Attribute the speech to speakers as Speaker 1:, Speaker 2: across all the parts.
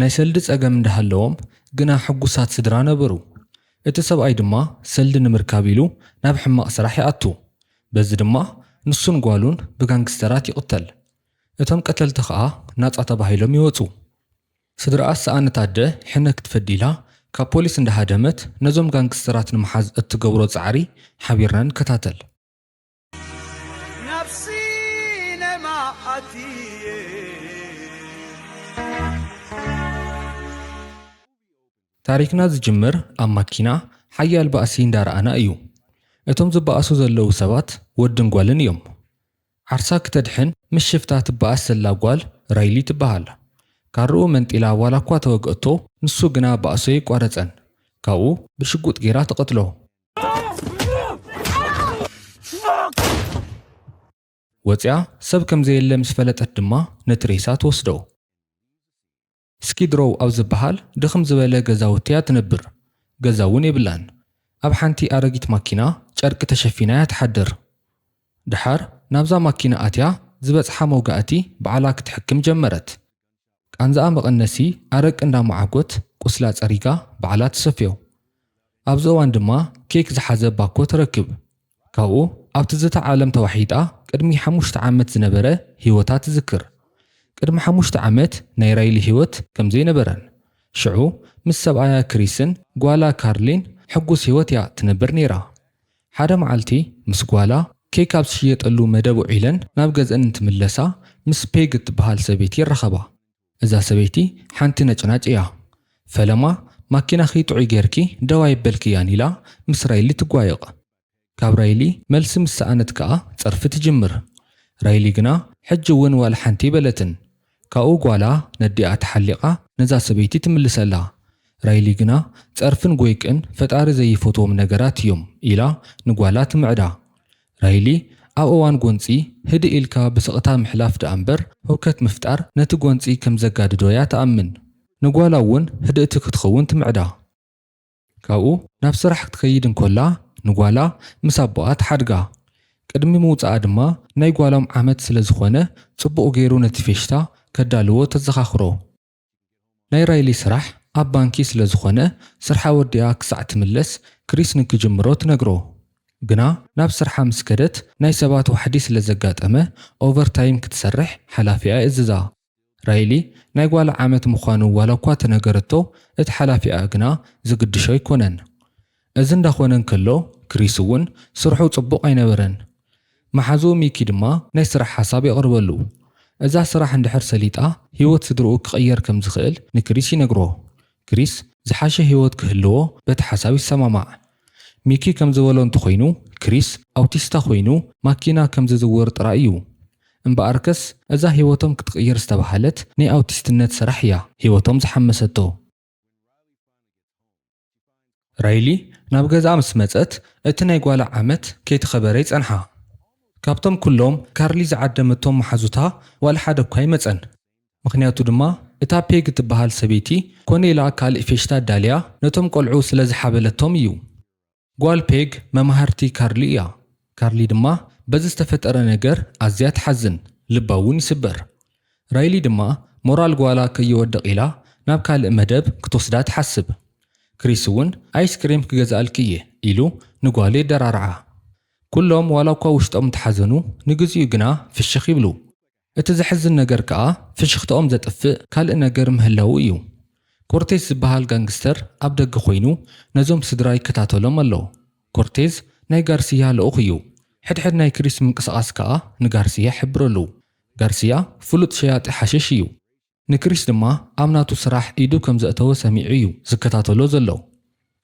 Speaker 1: ናይ ሰልዲ ጸገም እንዳሃለዎም ግና ሕጉሳት ስድራ ነበሩ። እቲ ሰብኣይ ድማ ሰልዲ ንምርካብ ኢሉ ናብ ሕማቕ ስራሕ ይኣቱ። በዚ ድማ ንሱን ጓሉን ብጋንግስተራት ይቕተል። እቶም ቀተልቲ ከኣ ናጻ ተባሂሎም ይወጹ። ስድራኣ ዝሰኣነት ኣደ ሕነ ክትፈዲ ኢላ ካብ ፖሊስ እንዳሃደመት ነዞም ጋንግስተራት ንምሓዝ እትገብሮ ጻዕሪ ሓቢርና ንከታተል። ናብ ሲነማ ኣትየ ታሪኽና ዝጅምር ኣብ ማኪና ሓያል ባእሲ እንዳረኣና እዩ። እቶም ዝባኣሱ ዘለዉ ሰባት ወድን ጓልን እዮም። ዓርሳ ክተድሕን ምስ ሽፍታ ትባኣስ ዘላ ጓል ራይሊ ትባሃል። ካርኡ መንጢላ ዋላ እኳ ተወግኣቶ ንሱ ግና ባእሱ ኣይቋረጸን። ካብኡ ብሽጉጥ ጌራ ትቐትሎ። ወፂኣ ሰብ ከም ዘየለ ምስ ፈለጠት ድማ ነቲ ሬሳ ትወስዶ። ስኪድሮው ኣብ ዝበሃል ድኽም ዝበለ ገዛውቲ እያ ትነብር፣ ገዛ እውን የብላን። ኣብ ሓንቲ ኣረጊት ማኪና ጨርቂ ተሸፊና እያ ትሓድር። ደሓር ናብዛ ማኪና ኣትያ ዝበፅሓ መውጋእቲ ባዕላ ክትሕክም ጀመረት። ቃንዝኣ መቐነሲ ኣረቂ እንዳመዓጐት ቁስላ ጸሪጋ ባዕላ ትሰፍዮ። ኣብዚ እዋን ድማ ኬክ ዝሓዘ ባኮ ትረክብ። ካብኡ ኣብ ትዝታ ዓለም ተዋሒጣ ቅድሚ ሓሙሽተ ዓመት ዝነበረ ህይወታ ትዝክር። ቅድሚ ሓሙሽተ ዓመት ናይ ራይሊ ህይወት ከምዘይነበረን ሽዑ ምስ ሰብኣያ ክሪስን ጓላ ካርሊን ሕጉስ ህይወት'ያ ትነብር ነይራ። ሓደ መዓልቲ ምስ ጓላ ኬክ ኣብ ዝሽየጠሉ መደብ ውዒለን ናብ ገዝኣን እንትምለሳ ምስ ፔግ እትበሃል ሰበይቲ ይራኸባ። እዛ ሰበይቲ ሓንቲ ነጭናጭ እያ። ፈለማ ማኪናኺ ጥዑይ ገይርኪ ደው ኣየበልክያን ኢላ ምስ ራይሊ ትጓየቕ። ካብ ራይሊ መልሲ ምስ ሰኣነት ከኣ ጸርፊ ትጅምር። ራይሊ ግና ሕጂ እውን ዋላ ሓንቲ ኣይበለትን። ካብኡ ጓላ ነዲኣ ተሓሊቓ ነዛ ሰበይቲ ትምልሰላ። ራይሊ ግና ጸርፍን ጎይቅን ፈጣሪ ዘይፈትዎም ነገራት እዮም ኢላ ንጓላ ትምዕዳ። ራይሊ ኣብ እዋን ጎንጺ ህድእ ኢልካ ብስቕታ ምሕላፍ ደኣምበር ህውከት ምፍጣር ነቲ ጎንጺ ከምዘጋድዶ'ያ ትኣምን። ንጓላ'ውን ህድእቲ ክትኸውን ትምዕዳ። ካብኡ ናብ ስራሕ ክትከይድ እንከላ ንጓላ ምስ ኣቦኣ ትሓድጋ። ቅድሚ ምውጽኣ ድማ ናይ ጓሎም ዓመት ስለ ዝኾነ ጽቡቕ ገይሩ ነቲ ፌሽታ ከዳልዎ ተዘኻኽሮ። ናይ ራይሊ ስራሕ ኣብ ባንኪ ስለ ዝኾነ ስርሓ ወዲኣ ክሳዕ ትምለስ ክሪስ ንክጅምሮ ትነግሮ። ግና ናብ ስርሓ ምስ ከደት ናይ ሰባት ዋሕዲ ስለ ዘጋጠመ ኦቨርታይም ክትሰርሕ ሓላፊኣ ይእዝዛ። ራይሊ ናይ ጓላ ዓመት ምዃኑ ዋላ እኳ ተነገረቶ፣ እቲ ሓላፊኣ ግና ዝግድሾ ኣይኰነን። እዚ እንዳ ዀነ እንከሎ፣ ክሪስ እውን ስርሑ ጽቡቕ ኣይነበረን። መሓዝኡ ሚኪ ድማ ናይ ስራሕ ሓሳብ የቕርበሉ። እዛ ስራሕ እንድሕር ሰሊጣ ህይወት ስድርኡ ክቕየር ከም ዝኽእል ንክሪስ ይነግሮ። ክሪስ ዝሓሸ ህይወት ክህልዎ በቲ ሓሳብ ይሰማማዕ። ሚኪ ከም ዝበሎ እንተኾይኑ ክሪስ ኣውቲስታ ኮይኑ ማኪና ከም ዝዝውር ጥራይ እዩ። እምበኣርከስ እዛ ህይወቶም ክትቕይር ዝተባህለት ናይ ኣውቲስትነት ስራሕ እያ ህይወቶም ዝሓመሰቶ። ራይሊ ናብ ገዛኣ ምስ መጸት፣ እቲ ናይ ጓላ ዓመት ከይተኸበረ ይጸንሓ። ካብቶም ኩሎም ካርሊ ዝዓደመቶም መሓዙታ ዋላ ሓደ እኳ ኣይመጸን። ምኽንያቱ ድማ እታ ፔግ እትበሃል ሰበይቲ ኮነ ኢላ ካልእ ፌሽታ ኣዳልያ ነቶም ቆልዑ ስለ ዝሓበለቶም እዩ። ጓል ፔግ መማህርቲ ካርሊ እያ። ካርሊ ድማ በዚ ዝተፈጠረ ነገር ኣዝያ ትሓዝን፣ ልባ እውን ይስበር። ራይሊ ድማ ሞራል ጓላ ከይወድቕ ኢላ ናብ ካልእ መደብ ክትወስዳ ትሓስብ። ክሪስ እውን ኣይስ ክሬም ክገዝኣልኪ እየ ኢሉ ንጓሉ የደራርዓ። ኵሎም ዋላ'ኳ ውሽጦም እንተሓዘኑ፣ ንግዚኡ ግና ፍሽኽ ይብሉ። እቲ ዘሕዝን ነገር ከኣ ፍሽኽታኦም ዘጥፍእ ካልእ ነገር ምህላዉ እዩ። ኮርቴዝ ዝበሃል ጋንግስተር ኣብ ደገ ኮይኑ ነዞም ስድራ ይከታተሎም ኣሎ። ኮርቴዝ ናይ ጋርስያ ልኡኽ እዩ። ሕድሕድ ናይ ክሪስ ምንቅስቓስ ከኣ ንጋርስያ ይሕብረሉ። ጋርስያ ፍሉጥ ሸያጢ ሓሽሽ እዩ። ንክሪስ ድማ ኣብ ናቱ ስራሕ ኢዱ ከም ዘእተወ ሰሚዑ እዩ ዝከታተሎ ዘሎ።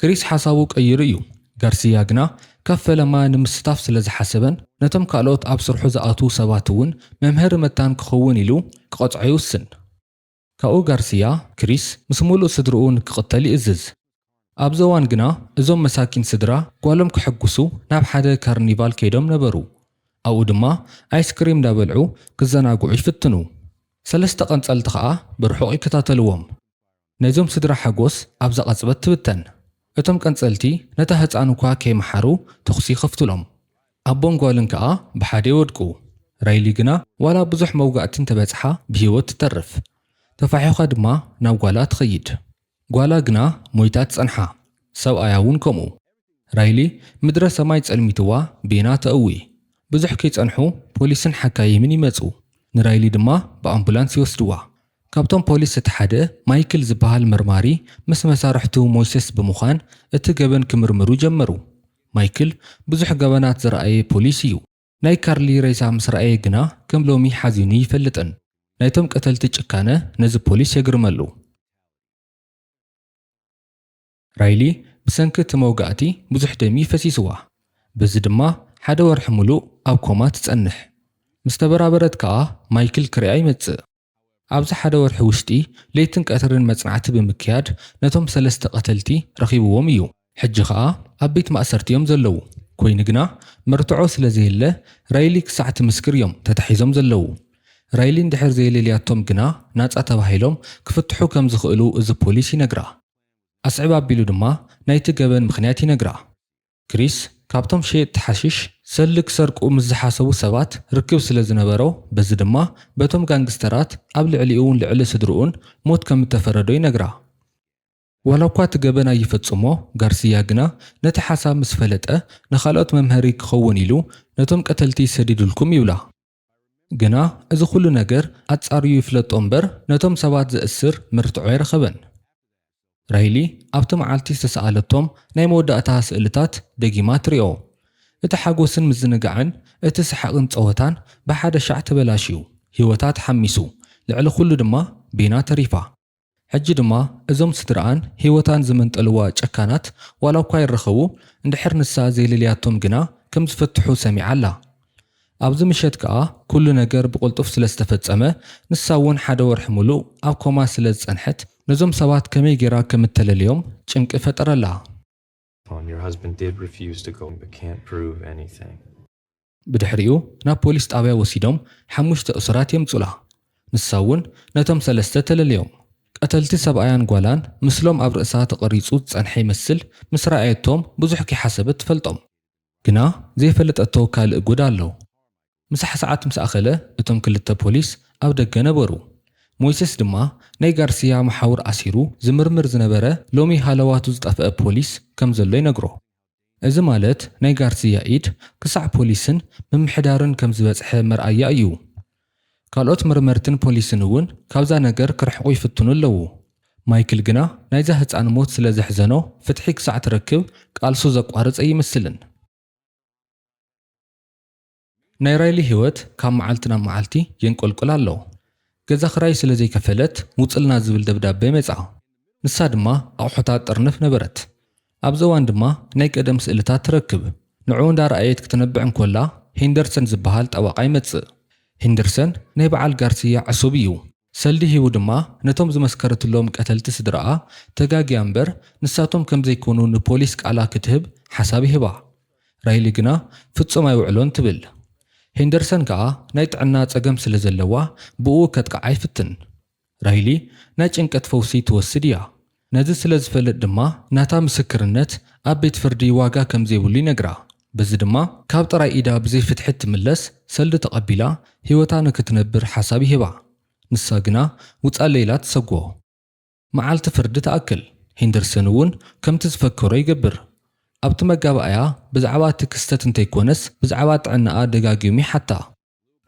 Speaker 1: ክሪስ ሓሳቡ ቀይሩ እዩ፣ ጋርሲያ ግና ካብ ፈለማ ንምስታፍ ስለ ዝሓሰበን ነቶም ካልኦት ኣብ ስርሑ ዝኣትዉ ሰባት እውን መምሀሪ መታን ክኸውን ኢሉ ክቐጽዖ ይውስን። ካብኡ ጋርሲያ፣ ክሪስ ምስ ምሉእ ስድርኡ ንክቕተል ይእዝዝ። ኣብዚ እዋን ግና እዞም መሳኪን ስድራ ጓሎም ከሐጉሱ ናብ ሓደ ካርኒቫል ከይዶም ነበሩ። ኣብኡ ድማ ኣይስክሪም እንዳበልዑ ክዘናግዑ ይፍትኑ። ሰለስተ ቀንጸልቲ ከኣ ብርሑቕ ይከታተልዎም። ናይዞም ስድራ ሓጎስ ኣብዛ ቅጽበት ትብተን። እቶም ቀንጸልቲ ነታ ህጻን እኳ ከይመሓሩ ተኹሲ ይኸፍቱሎም። ኣቦን ጓልን ከኣ ብሓደ ይወድቁ። ራይሊ ግና ዋላ ብዙሕ መውጋእቲ እንተበጽሓ ብህይወት ትተርፍ። ተፋሒዃ ድማ ናብ ጓላ ትኸይድ። ጓላ ግና ሞይታ ትጸንሓ፣ ሰብኣያ እውን ከምኡ። ራይሊ ምድረ ሰማይ ጸልሚትዋ ቤና ተእዊ። ብዙሕ ከይጸንሑ ፖሊስን ሓካይምን ይመጹ፣ ንራይሊ ድማ ብኣምቡላንስ ይወስድዋ። ካብቶም ፖሊስ እቲ ሓደ ማይክል ዝበሃል መርማሪ ምስ መሳርሕቱ ሞይሰስ ብምዃን እቲ ገበን ክምርምሩ ጀመሩ። ማይክል ብዙሕ ገበናት ዝረኣየ ፖሊስ እዩ። ናይ ካርሊ ሬሳ ምስ ረኣየ ግና ከም ሎሚ ሓዚኑ ይፈልጥን። ናይቶም ቀተልቲ ጭካነ ነዚ ፖሊስ የግርመሉ። ራይሊ ብሰንኪ እቲ መውጋእቲ ብዙሕ ደም እዩ ፈሲስዋ፣ በዚ ድማ ሓደ ወርሒ ምሉእ ኣብ ኮማ ትጸንሕ። ምስ ተበራበረት ከኣ ማይክል ክሪኣ ይመጽእ። ኣብዚ ሓደ ወርሒ ውሽጢ ለይትን ቀትርን መጽናዕቲ ብምክያድ ነቶም ሰለስተ ቀተልቲ ረኺብዎም እዩ። ሕጂ ከኣ ኣብ ቤት ማእሰርቲ እዮም ዘለዉ። ኮይኑ ግና መርትዖ ስለ ዘየለ ራይሊ ክሳዕ ትምስክር እዮም ተታሒዞም ዘለዉ። ራይሊ እንድሕር ዘየለልያቶም ግና ናጻ ተባሂሎም ክፍትሑ ከም ዝኽእሉ እዚ ፖሊስ ይነግራ። ኣስዕብ ኣቢሉ ድማ ናይቲ ገበን ምኽንያት ይነግራ። ክሪስ ካብቶም ሸየጥቲ ሓሽሽ ሰልዲ ክሰርቁ ምስ ዝሓሰቡ ሰባት ርክብ ስለ ዝነበሮ፣ በዚ ድማ በቶም ጋንግስተራት ኣብ ልዕሊኡን ልዕሊ ስድርኡን ሞት ከም እተፈረዶ ይነግራ። ዋላ እኳ እቲ ገበን ኣይፈጽሞ፣ ጋርስያ ግና ነቲ ሓሳብ ምስ ፈለጠ ንኻልኦት መምሀሪ ክኸውን ኢሉ ነቶም ቀተልቲ ሰዲዱልኩም ይብላ። ግና እዚ ዅሉ ነገር ኣጻርዩ ይፍለጦ እምበር፣ ነቶም ሰባት ዜእስር መርትዖ ኣይረኸበን። ራይሊ ኣብቲ መዓልቲ ዝተሰኣለቶም ናይ መወዳእታ ስእልታት ደጊማ ትርእዮ። እቲ ሓጐስን ምዝንጋዕን፣ እቲ ሰሓቕን ጸወታን ብሓደ ሻዕ ተበላሽዩ። ህይወታ ተሓሚሱ፣ ልዕሊ ዅሉ ድማ ቤና ተሪፋ። ሕጂ ድማ እዞም ስድርኣን ህይወታን ዝመንጠልዋ ጨካናት ዋላኳ ይራኸቡ እንድሕር ንሳ ዘይለልያቶም ግና ከም ዝፈትሑ ሰሚዓ ኣላ። ኣብዚ ምሸት ከኣ ኩሉ ነገር ብቕልጡፍ ስለ ዝተፈጸመ ንሳ ውን ሓደ ወርሒ ምሉእ ኣብ ኮማ ስለ ዝጸንሐት ነዞም ሰባት ከመይ ጌራ ከም እተለልዮም ጭንቂ ፈጠረላ።
Speaker 2: ብድሕሪኡ
Speaker 1: ናብ ፖሊስ ጣብያ ወሲዶም ሓሙሽተ እሱራት የምፁላ። ንሳ እውን ነቶም ሰለስተ ተለልዮም። ቀተልቲ ሰብኣያን ጓላን ምስሎም ኣብ ርእሳ ተቐሪፁ ዝፀንሐ ይመስል ምስ ረኣየቶም ብዙሕ ከይሓሰበት ትፈልጦም። ግና ዘይፈለጠቶ ካልእ ጉድ ኣሎ። ምሳሕ ሰዓት ምስ ኣኸለ እቶም ክልተ ፖሊስ ኣብ ደገ ነበሩ። ሞይሰስ ድማ ናይ ጋርስያ መሓውር ኣሲሩ ዝምርምር ዝነበረ ሎሚ ሃለዋቱ ዝጠፍኣ ፖሊስ ከም ዘሎ ይነግሮ። እዚ ማለት ናይ ጋርስያ ኢድ ክሳዕ ፖሊስን ምምሕዳርን ከም ዝበጽሐ መርኣያ እዩ። ካልኦት መርመርትን ፖሊስን እውን ካብዛ ነገር ክርሕቁ ይፍትኑ ኣለዉ። ማይክል ግና ናይዛ ህጻን ሞት ስለ ዘሕዘኖ ፍትሒ ክሳዕ ትረክብ ቃልሱ ዘቋርጽ ኣይመስልን። ናይ ራይሊ ህይወት ካብ መዓልቲ ናብ መዓልቲ የንቆልቁል ኣሎ። ገዛ ክራይ ስለ ዘይከፈለት ውጽልና ዝብል ደብዳበ መጻ። ንሳ ድማ ኣቑሑታ ትጥርንፍ ነበረት። ኣብዚ እዋን ድማ ናይ ቀደም ስእልታት ትረክብ። ንዕኡ እንዳረኣየት ክትነብዕ እንኮላ ሂንደርሰን ዝበሃል ጠበቓ ይመጽእ። ሂንደርሰን ናይ በዓል ጋርስያ ዕሱብ እዩ። ሰልዲ ሂቡ ድማ ነቶም ዝመስከረትሎም ቀተልቲ ስድራኣ ተጋግያ እምበር ንሳቶም ከምዘይኮኑ ንፖሊስ ቃላ ክትህብ ሓሳብ ይህባ። ራይሊ ግና ፍጹም ኣይውዕሎን ትብል። ሄንደርሰን ከኣ ናይ ጥዕና ጸገም ስለ ዘለዋ ብእኡ ከጥቅዓ ይፍትን። ራይሊ ናይ ጭንቀት ፈውሲ ትወስድ እያ። ነዚ ስለ ዝፈልጥ ድማ ናታ ምስክርነት ኣብ ቤት ፍርዲ ዋጋ ከም ዘይብሉ ይነግራ። በዚ ድማ ካብ ጥራይ ኢዳ ብዘይ ፍትሒ እትምለስ ሰልዲ ተቐቢላ ህይወታ ንክትነብር ሓሳብ ይህባ። ንሳ ግና ውጻለይ ኢላ ትሰጎ። መዓልቲ ፍርዲ ትኣክል። ሄንደርሰን እውን ከምቲ ዝፈከሮ ይገብር። ኣብቲ መጋባእያ ብዛዕባ እቲ ክስተት እንተይኮነስ ብዛዕባ ጥዕናኣ ደጋጊሙ ይሓታ።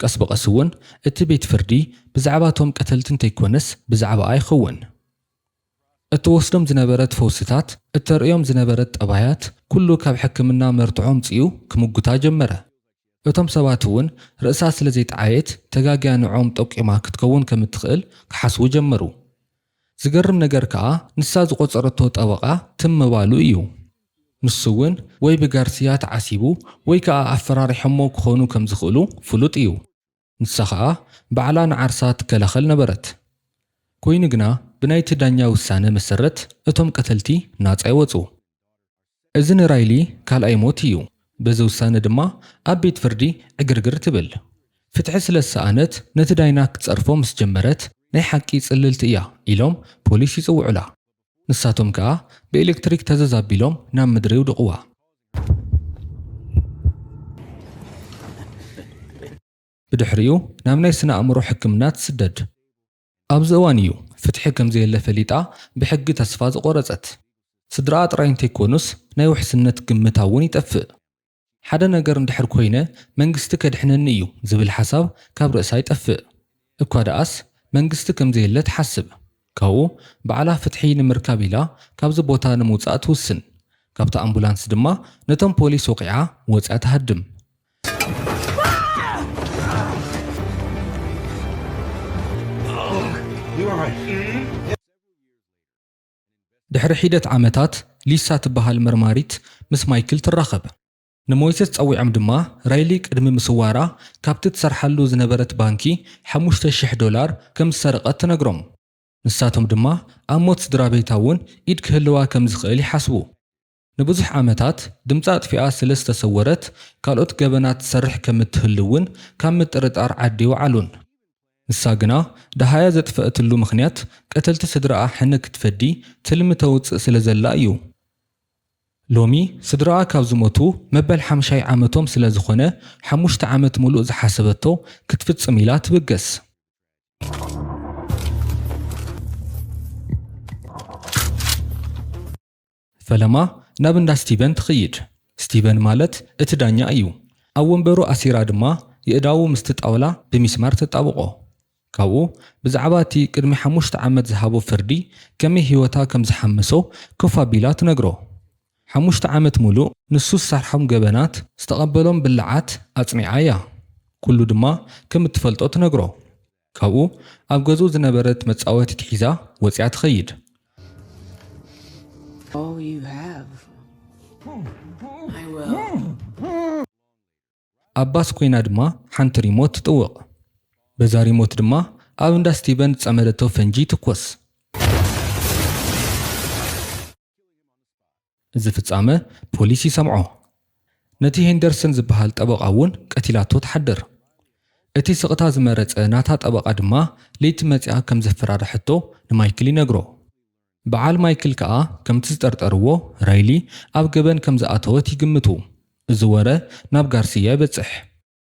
Speaker 1: ቀስ ብቐስ እውን እቲ ቤት ፍርዲ ብዛዕባ እቶም ቀተልቲ እንተይኮነስ ብዛዕባኣ ይኸውን። እትወስዶም ዝነበረት ፈውስታት፣ እተርእዮም ዝነበረት ጠባያት፣ ኩሉ ካብ ሕክምና መርትዖ ኣምጺኡ ክምጉታ ጀመረ። እቶም ሰባት እውን ርእሳ ስለ ዘይጠዓየት ተጋግያ ንዕኦም ጠቂማ ክትከውን ከም እትኽእል ክሓስቡ ጀመሩ። ዝገርም ነገር ከኣ ንሳ ዝቖጸረቶ ጠበቓ ትም ምባሉ እዩ። ንሱ'ውን ወይ ብጋርስያ ተዓሲቡ ወይ ከኣ ኣፈራሪሖሞ ክኾኑ ከም ዝኽእሉ ፍሉጥ እዩ። ንሳ ከኣ ባዕላ ንዓርሳ ትከላኸል ነበረት። ኮይኑ ግና ብናይቲ ዳኛ ውሳነ መሰረት እቶም ቀተልቲ ናጻ ይወጹ። እዚ ንራይሊ ካልኣይ ሞት እዩ። በዚ ውሳነ ድማ ኣብ ቤት ፍርዲ ዕግርግር ትብል። ፍትሒ ስለ ዝሰኣነት ነቲ ዳይና ክትጸርፎ ምስ ጀመረት ናይ ሓቂ ጽልልቲ እያ ኢሎም ፖሊስ ይጽውዑላ። ንሳቶም ከኣ ብኤለክትሪክ ተዘዝ ኣቢሎም ናብ ምድሪ የውድቕዋ። ብድሕሪኡ ናብ ናይ ስነ ኣእምሮ ሕክምና ትስደድ። ኣብዚ እዋን እዩ ፍትሒ ከምዘየለ ፈሊጣ ብሕጊ ተስፋ ዝቖረጸት። ስድራኣ ጥራይ እንተይኮኑስ ናይ ውሕስነት ግምታ እውን ይጠፍእ። ሓደ ነገር እንድሕር ኮይነ መንግስቲ ከድሕነኒ እዩ ዝብል ሓሳብ ካብ ርእሳ ይጠፍእ። እኳ ደኣስ መንግስቲ ከምዘየለ ትሓስብ። ካብኡ ባዕላ ፍትሒ ንምርካብ ኢላ ካብዚ ቦታ ንምውጻእ ትውስን። ካብታ ኣምቡላንስ ድማ ነቶም ፖሊስ ወቒዓ ወጽያ ትሃድም። ድሕሪ ሒደት ዓመታት፣ ሊሳ ትበሃል መርማሪት ምስ ማይክል ትራኸብ። ንሞይሰስ ጸዊዖም ድማ ራይሊ ቅድሚ ምስዋራ ካብቲ ትሰርሓሉ ዝነበረት ባንኪ ሓሙሽተ ሽሕ ዶላር ከም ዝሰረቐት ትነግሮም። ንሳቶም ድማ ኣብ ሞት ስድራቤታ'ውን ኢድ ክህልዋ ከም ዝኽእል ይሓስቡ። ንብዙሕ ዓመታት ድምጻ ኣጥፊኣ ስለ ዝተሰወረት ካልኦት ገበናት ትሰርሕ ከም እትህሉ'ውን ካብ ምጥርጣር ዓዲ ኣይወዓሉን። ንሳ ግና ደሃያ ዘጥፈኣትሉ ምኽንያት ቀተልቲ ስድራኣ ሕነ ክትፈዲ ትልሚ ተውጽእ ስለ ዘላ እዩ። ሎሚ ስድራኣ ካብ ዝሞቱ መበል ሓምሻይ ዓመቶም ስለ ዝኾነ ሓሙሽተ ዓመት ምሉእ ዝሓሰበቶ ክትፍጽም ኢላ ትብገስ። ፈለማ ናብ እንዳ ስቲቨን ትኽይድ። ስቲቨን ማለት እቲ ዳኛ እዩ። ኣብ ወንበሩ ኣሲራ ድማ የእዳዉ ምስቲ ጣውላ ብሚስማር ተጣብቖ። ካብኡ ብዛዕባ እቲ ቅድሚ ሓሙሽተ ዓመት ዝሃቦ ፍርዲ ከመይ ህይወታ ከም ዝሓመሶ ኮፍ ኣቢላ ትነግሮ። ሓሙሽተ ዓመት ምሉእ ንሱ ዝሰርሖም ገበናት፣ ዝተቐበሎም ብላዓት ኣጽኒዓ እያ። ኩሉ ድማ ከም እትፈልጦ ትነግሮ። ካብኡ ኣብ ገዝኡ ዝነበረት መጻወቲት ሒዛ ወጺኣ ትኸይድ። ኣብ ባስ ኮይና ድማ ሓንቲ ሪሞት ትጥውቕ። በዛ ሪሞት ድማ ኣብ እንዳ ስቲቨን ዝጸመደቶ ፈንጂ ይትኮስ። እዚ ፍጻመ ፖሊስ ይሰምዖ። ነቲ ሄንደርሰን ዝበሃል ጠበቓ እውን ቀቲላቶ ትሓድር። እቲ ስቕታ ዝመረጸ ናታ ጠበቓ ድማ ለይቲ መጺኣ ከም ዘፈራርሐቶ ንማይክል ይነግሮ። በዓል ማይክል ከኣ ከምቲ ዝጠርጠርዎ ራይሊ ኣብ ገበን ከም ዝኣተወት ይግምቱ። እዚ ወረ ናብ ጋርስያ ይበጽሕ።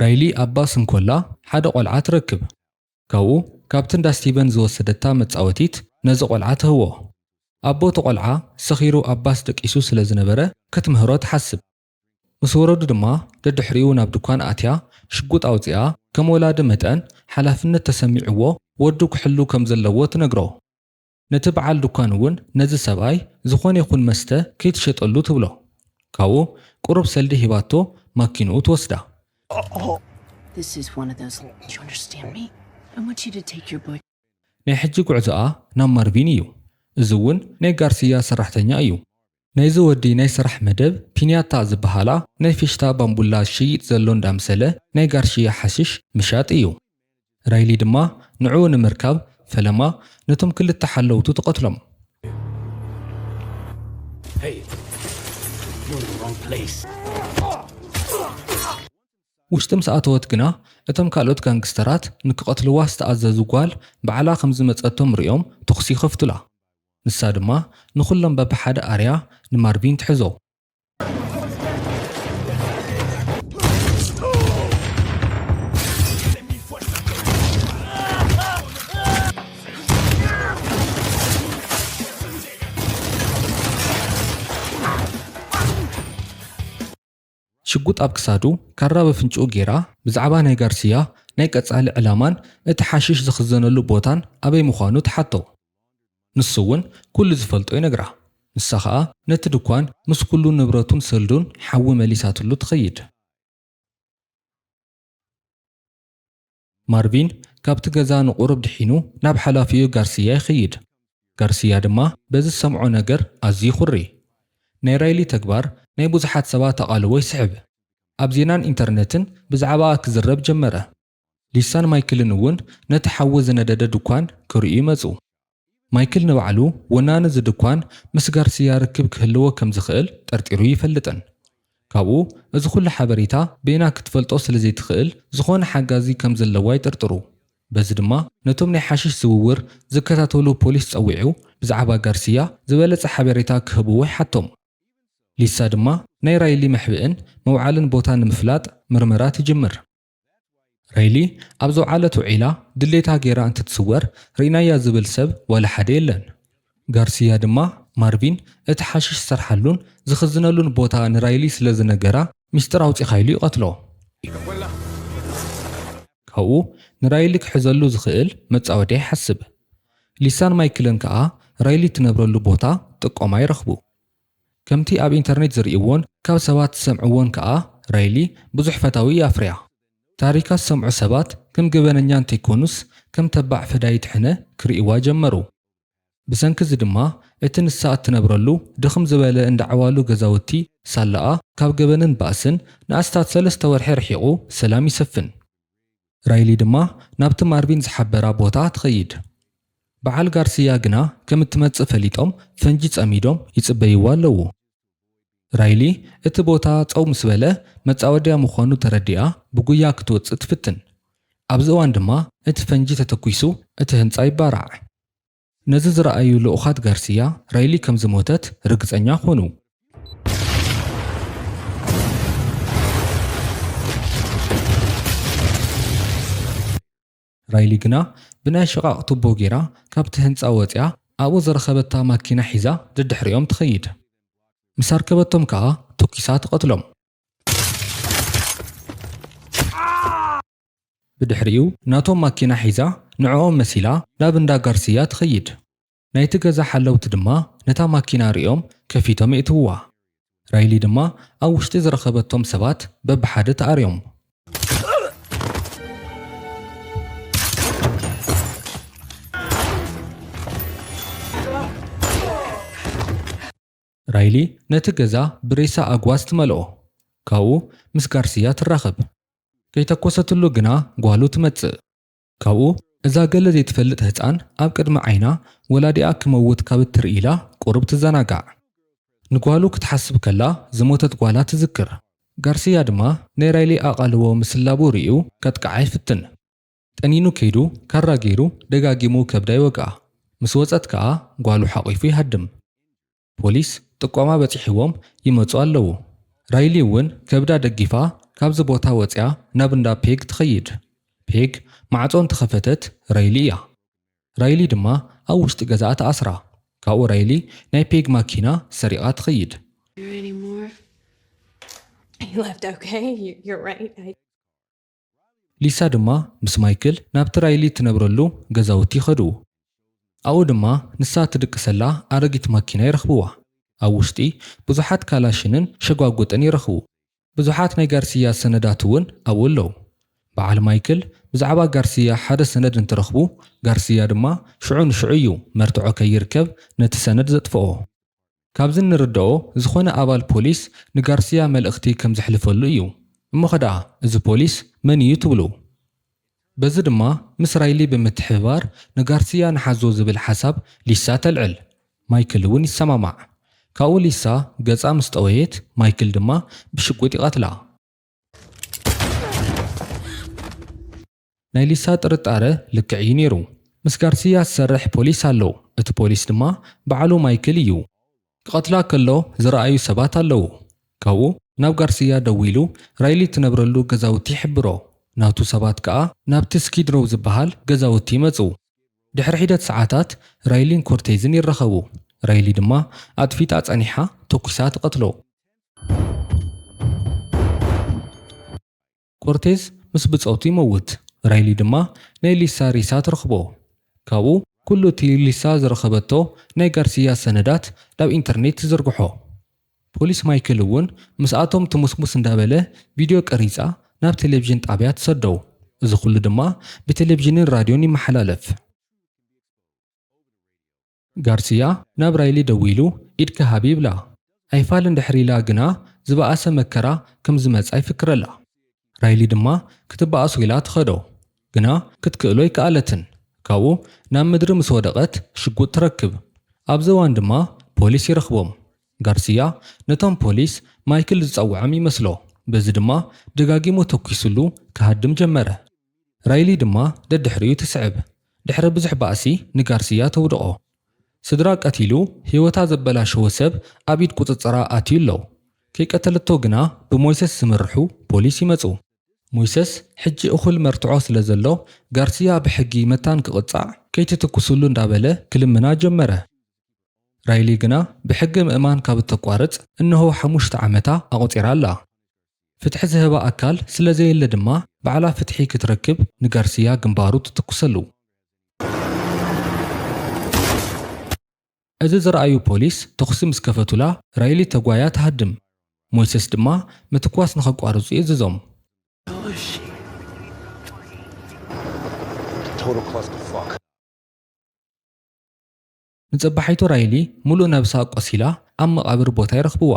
Speaker 1: ራይሊ ኣብ ባስ እንኮላ ሓደ ቆልዓ ትረክብ። ካብኡ ካብቲ እንዳ ስቲቨን ዝወሰደታ መጻወቲት ነዚ ቆልዓ ትህቦ። ኣቦ እቲ ቆልዓ ሰኺሩ ኣብ ባስ ደቂሱ ስለ ዝነበረ ክትምህሮ ትሓስብ። ምስ ወረዱ ድማ ደድሕሪኡ ናብ ድኳን ኣትያ ሽጉጥ ኣውጺኣ ከም ወላዲ መጠን ሓላፍነት ተሰሚዕዎ ወዱ ክሕሉ ከም ዘለዎ ትነግሮ። ነቲ በዓል ዱካን እውን ነዚ ሰብኣይ ዝኾነ ይኹን መስተ ከይትሸጠሉ ትብሎ። ካብኡ ቁሩብ ሰልዲ ሂባቶ ማኪንኡ ትወስዳ።
Speaker 3: ናይ ሕጂ
Speaker 1: ጉዕዞኣ ናብ ማርቪን እዩ። እዚ እውን ናይ ጋርስያ ሰራሕተኛ እዩ። ናይዚ ወዲ ናይ ስራሕ መደብ ፒንያታ ዝበሃላ ናይ ፌሽታ ባምቡላ ዝሸይጥ ዘሎ እንዳምሰለ ናይ ጋርሽያ ሓሽሽ ምሻጥ እዩ። ራይሊ ድማ ንዕኡ ንምርካብ ፈለማ ነቶም ክልተ ሓለውቱ ትቐትሎም። ውሽጢ ምስ ኣተወት ግና እቶም ካልኦት ጋንግስተራት ንክቐትልዋ ዝተኣዘዙ ጓል ባዕላ ከምዝመጸቶም ርእዮም ተኹሲ ይኸፍቱላ። ንሳ ድማ ንኹሎም በብሓደ ኣርያ ንማርቪን ትሕዞ። ሽጉጥ ኣብ ክሳዱ፣ ካራ ኣብ ኣፍንጭኡ ገይራ፣ ብዛዕባ ናይ ጋርሲያ ናይ ቀጻሊ ዕላማን እቲ ሓሽሽ ዝኽዘነሉ ቦታን ኣበይ ምዃኑ ትሓቶ። ንሱ'ውን ኩሉ ዝፈልጦ ይነግራ። ንሳ ከኣ ነቲ ድኳን ምስ ኩሉ ንብረቱን ሰልዱን ሓዊ መሊሳትሉ ትኸይድ። ማርቪን ካብቲ ገዛ ንቝሩብ ድሒኑ ናብ ሓላፊኡ ጋርስያ ይኸይድ። ጋርስያ ድማ በዚ ዝሰምዖ ነገር ኣዝዩ ይዅሪ። ናይ ራይሊ ተግባር ናይ ብዙሓት ሰባት ኣቓልቦ ይስሕብ። ኣብ ዜናን ኢንተርነትን ብዛዕባኣ ክዝረብ ጀመረ። ሊሳን ማይክልን እውን ነቲ ሓዊ ዝነደደ ድኳን ክርእዩ መጹ። ማይክል ንባዕሉ ወናኒ እዚ ድኳን ምስ ጋርስያ ርክብ ክህልዎ ከም ዝኽእል ጠርጢሩ ኣይፈልጥን። ካብኡ እዚ ዅሉ ሓበሬታ በይና ክትፈልጦ ስለ ዘይትኽእል ዝዀነ ሓጋዚ ከም ዘለዎ ኣይጥርጥሩ። በዚ ድማ ነቶም ናይ ሓሽሽ ዝውውር ዝከታተሉ ፖሊስ ጸዊዑ ብዛዕባ ጋርስያ ዝበለጸ ሓበሬታ ክህብዎ ይሓቶም። ሊሳ ድማ ናይ ራይሊ መሕብእን መውዓልን ቦታ ንምፍላጥ ምርመራ ትጅምር። ሬሊ ኣብ ዘውዓለቶ ዒላ ድሌታ ገይራ እንትትስወር ርኢናያ ዝብል ሰብ ዋላ ሓደ የለን። ጋርሲያ ድማ ማርቪን እቲ ሓሽሽ ዝሰርሓሉን ዝኽዝነሉን ቦታ ንራይሊ ስለ ዝነገራ ሚስጥር ኣውጺኻ ኢሉ ይቐትሎ። ካብኡ ንራይሊ ክሕዘሉ ዝኽእል መጻወድያ ይሓስብ። ሊሳን ማይክልን ከኣ ራይሊ እትነብረሉ ቦታ ጥቆማ ይረኽቡ። ከምቲ ኣብ ኢንተርኔት ዝርእይዎን ካብ ሰባት ዝሰምዕዎን ከኣ ራይሊ ብዙሕ ፈታዊ እያ ኣፍርያ። ታሪካ ዝሰምዑ ሰባት ከም ገበነኛ እንተይኮኑስ ከም ተባዕ ፈዳይት ሕነ ክርእይዋ ጀመሩ። ብሰንኪ እዚ ድማ እቲ ንሳ እትነብረሉ ድኽም ዝበለ እንዳ ዓዋሉ ገዛውቲ ሳላኣ ካብ ገበንን ባእስን ንኣስታት ሰለስተ ወርሒ ርሒቑ ሰላም ይሰፍን። ራይሊ ድማ ናብቲ ማርቪን ዝሓበራ ቦታ ትኸይድ። በዓል ጋርስያ ግና ከም እትመጽእ ፈሊጦም ፈንጂ ጸሚዶም ይጽበይዋ ኣለዉ። ራይሊ እቲ ቦታ ጸው ምስ በለ መጻወድያ ምዃኑ ተረዲኣ ብጉያ ክትወጽእ ትፍትን። ኣብዚ እዋን ድማ እቲ ፈንጂ ተተኲሱ እቲ ህንጻ ይባራዕ። ነዚ ዝረኣዩ ልኡኻት ጋርሲያ፣ ራይሊ ከም ዝሞተት ርግጸኛ ኰኑ። ራይሊ ግና ብናይ ሽቓቕ ቱቦ ገይራ ካብቲ ህንጻ ወጺኣ ኣብኡ ዝረኸበታ ማኪና ሒዛ ደድሕሪኦም ትኸይድ። ምስ ኣርከበቶም ከኣ ቶኪሳ ትቐትሎም። ብድሕሪኡ ናቶም ማኪና ሒዛ ንዕኦም መሲላ ናብ እንዳ ጋርስያ ትኸይድ። ናይቲ ገዛ ሓለውቲ ድማ ነታ ማኪና ርእዮም ከፊቶም የእትውዋ። ራይሊ ድማ ኣብ ውሽጢ ዝረኸበቶም ሰባት በብሓደ ትኣርዮም። ራይሊ ነቲ ገዛ ብሬሳ ኣግዋዝ ትመልኦ። ካብኡ ምስ ጋርስያ ትራኸብ። ከይተኮሰትሉ ግና ጓሉ ትመጽእ። ካብኡ እዛ ገለ ዘይትፈልጥ ህጻን ኣብ ቅድሚ ዓይና ወላዲኣ ክመውት ካብ እትርኢ ኢላ ቁሩብ ትዘናጋዕ። ንጓሉ ክትሓስብ ከላ ዝሞተት ጓላ ትዝክር። ጋርስያ ድማ ናይ ራይሊ ኣቓልቦ ምስላቡ ርእዩ ከጥቅዓ ይፍትን። ጠኒኑ ከይዱ ካራ ገይሩ ደጋጊሙ ከብዳ ይወግኣ። ምስ ወጸት ከኣ ጓሉ ሓቚፉ ይሃድም። ፖሊስ ጥቆማ በጺሕዎም ይመጹ ኣለዉ። ራይሊ እውን ከብዳ ደጊፋ ካብዚ ቦታ ወጺኣ ናብ እንዳ ፔግ ትኸይድ። ፔግ ማዕጾ እንተኸፈተት ራይሊ እያ። ራይሊ ድማ ኣብ ውሽጢ ገዛኣ ትኣስራ። ካብኡ ራይሊ ናይ ፔግ ማኪና ሰሪቓ ትኸይድ። ሊሳ ድማ ምስ ማይክል ናብቲ ራይሊ እትነብረሉ ገዛውቲ ይኸዱ። ኣብኡ ድማ ንሳ እትድቅሰላ ኣረጊት ማኪና ይረኽብዋ። ኣብ ውሽጢ ብዙሓት ካላሽንን ሸጓጉጥን ይረኽቡ። ብዙሓት ናይ ጋርስያ ሰነዳት እውን ኣብኡ ኣለዉ። በዓል ማይክል ብዛዕባ ጋርስያ ሓደ ሰነድ እንትረኽቡ፣ ጋርስያ ድማ ሽዑ ንሽዑ እዩ መርትዖ ከይርከብ ነቲ ሰነድ ዘጥፍኦ። ካብዚ እንርደኦ ዝኾነ ኣባል ፖሊስ ንጋርስያ መልእኽቲ ከም ዘሕልፈሉ እዩ። እሞኸ ደኣ እዚ ፖሊስ መን እዩ ትብሉ? በዚ ድማ ምስ ራይሊ ብምትሕብባር ንጋርስያ ንሓዞ ዝብል ሓሳብ ሊሳ ተልዕል። ማይክል እውን ይሰማማዕ። ካብኡ ሊሳ ገጻ ምስ ጠወየት ማይክል ድማ ብሽጉጥ ይቐትላ። ናይ ሊሳ ጥርጣረ ልክዕ እዩ ነይሩ። ምስ ጋርስያ ዝሰርሕ ፖሊስ ኣሎ፣ እቲ ፖሊስ ድማ በዓሉ ማይክል እዩ። ክቐትላ ከሎ ዝረኣዩ ሰባት ኣለዉ። ካብኡ ናብ ጋርስያ ደዊሉ ራይሊ እትነብረሉ ገዛውቲ ይሕብሮ። ናቱ ሰባት ከኣ ናብቲ ስኪድ ሮው ዝበሃል ገዛውቲ ይመጹ። ድሕሪ ሒደት ሰዓታት ራይሊን ኮርቴዝን ይራኸቡ። ራይሊ ድማ ኣጥፊጣ ጸኒሓ ተኲሳ ትቐትሎ። ኮርቴዝ ምስ ብጾቱ ይመውት፣ ራይሊ ድማ ናይ ሊሳ ሬሳ ትረኽቦ። ካብኡ ኩሉ እቲ ሊሳ ዝረኸበቶ ናይ ጋርሲያ ሰነዳት ናብ ኢንተርኔት ትዝርግሖ። ፖሊስ ማይክል እውን ምስኣቶም ትሙስሙስ እንዳበለ ቪድዮ ቀሪጻ ናብ ቴሌቭዥን ጣብያ ትሰዶ። እዚ ኩሉ ድማ ብቴሌቭዥንን ራድዮን ይመሓላለፍ። ጋርሲያ ናብ ራይሊ ደዊሉ ኢድኪ ሃቢ ይብላ። ኣይፋልን ድሕሪ ኢላ ግና ዝበኣሰ መከራ ከም ዝመጻ ይፍክረላ። ራይሊ ድማ ክትበኣሶ ኢላ ትኸዶ። ግና ክትክእሎ ኣይከኣለትን። ካብኡ ናብ ምድሪ ምስ ወደቐት ሽጉጥ ትረክብ። ኣብዚ እዋን ድማ ፖሊስ ይረኽቦም። ጋርሲያ ነቶም ፖሊስ ማይክል ዝጸውዐም ይመስሎ። በዚ ድማ ደጋጊሙ ተኲስሉ ክሃድም ጀመረ። ራይሊ ድማ ደድሕሪኡ ትስዕብ። ድሕሪ ብዙሕ ባእሲ ንጋርሲያ ተውድቖ። ስድራ ቀቲሉ ህይወታ ዘበላሸወ ሰብ ኣብ ኢድ ቁጽጽራ ኣትዩ ኣሎ። ከይቀተለቶ ግና ብሞይሰስ ዝምርሑ ፖሊስ ይመጹ። ሞይሰስ ሕጂ እኹል መርትዖ ስለዘሎ ጋርሲያ ብሕጊ መታን ክቕጻዕ ከይትትኩሱሉ እንዳበለ ክልምና ጀመረ። ራይሊ ግና ብሕጊ ምእማን ካብ እተቋርጽ እነሆ ሓሙሽተ ዓመታ ኣቑጺራ ኣላ። ፍትሒ ዝህባ ኣካል ስለ ዘየለ ድማ ባዕላ ፍትሒ ክትረክብ ንጋርሲያ ግንባሩ ትትኩሰሉ። እዚ ዝረኣዩ ፖሊስ ተኹሲ ምስ ከፈቱላ ራይሊ ተጓያ ትሃድም። ሞይሰስ ድማ ምትኳስ ንኸቋርጹ የእዝዞም። ንጸባሒቱ ራይሊ ምሉእ ነብሳ ቆሲላ ኣብ መቓብር ቦታ ይረኽብዋ።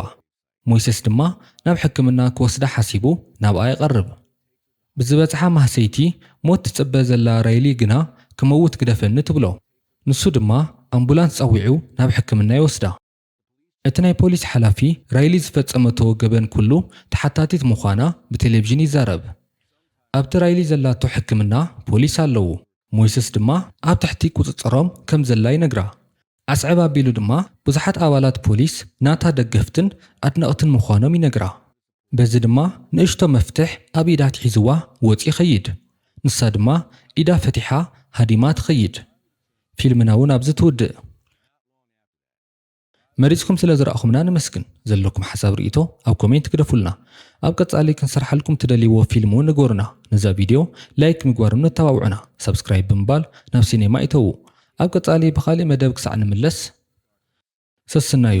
Speaker 1: ሞይሰስ ድማ ናብ ሕክምና ክወስዳ ሓሲቡ ናብኣ ይቐርብ። ብዝበጽሓ ማህሰይቲ ሞት ትጽበ ዘላ ራይሊ ግና ክመውት ግደፈኒ ትብሎ። ንሱ ድማ ኣምቡላንስ ጸዊዑ ናብ ሕክምና ይወስዳ። እቲ ናይ ፖሊስ ሓላፊ ራይሊ ዝፈጸመቶ ገበን ኩሉ ተሓታቲት ምዃና ብቴሌቭዥን ይዛረብ። ኣብቲ ራይሊ ዘላቶ ሕክምና ፖሊስ ኣለዉ፣ ሞይስስ ድማ ኣብ ትሕቲ ቁጽጽሮም ከም ዘላ ይነግራ። ኣስዕብ ኣቢሉ ድማ ብዙሓት ኣባላት ፖሊስ ናታ ደገፍትን ኣድነቕትን ምዃኖም ይነግራ። በዚ ድማ ንእሽቶ መፍትሕ ኣብ ኢዳ ኣትሒዝዋ ወጺኡ ይኸይድ። ንሳ ድማ ኢዳ ፈቲሓ ሃዲማ ትኸይድ። ፊልምና እውን ኣብዚ ትውድእ። መሪጽኩም ስለ ዝረኣኹምና ነመስግን። ዘለኩም ሓሳብ ርኢቶ ኣብ ኮሜንት ግደፉልና። ኣብ ቀጻሊ ክንሰርሓልኩም ትደልይዎ ፊልም ውን ንገሩና። ነዛ ቪድዮ ላይክ ምግባርም ነተባብዑና። ሳብስክራይብ ብምባል ናብ ሲኔማ እተዉ። ኣብ ቀጻሊ ብኻሊእ መደብ ክሳዕ ንምለስ ሰስናዩ።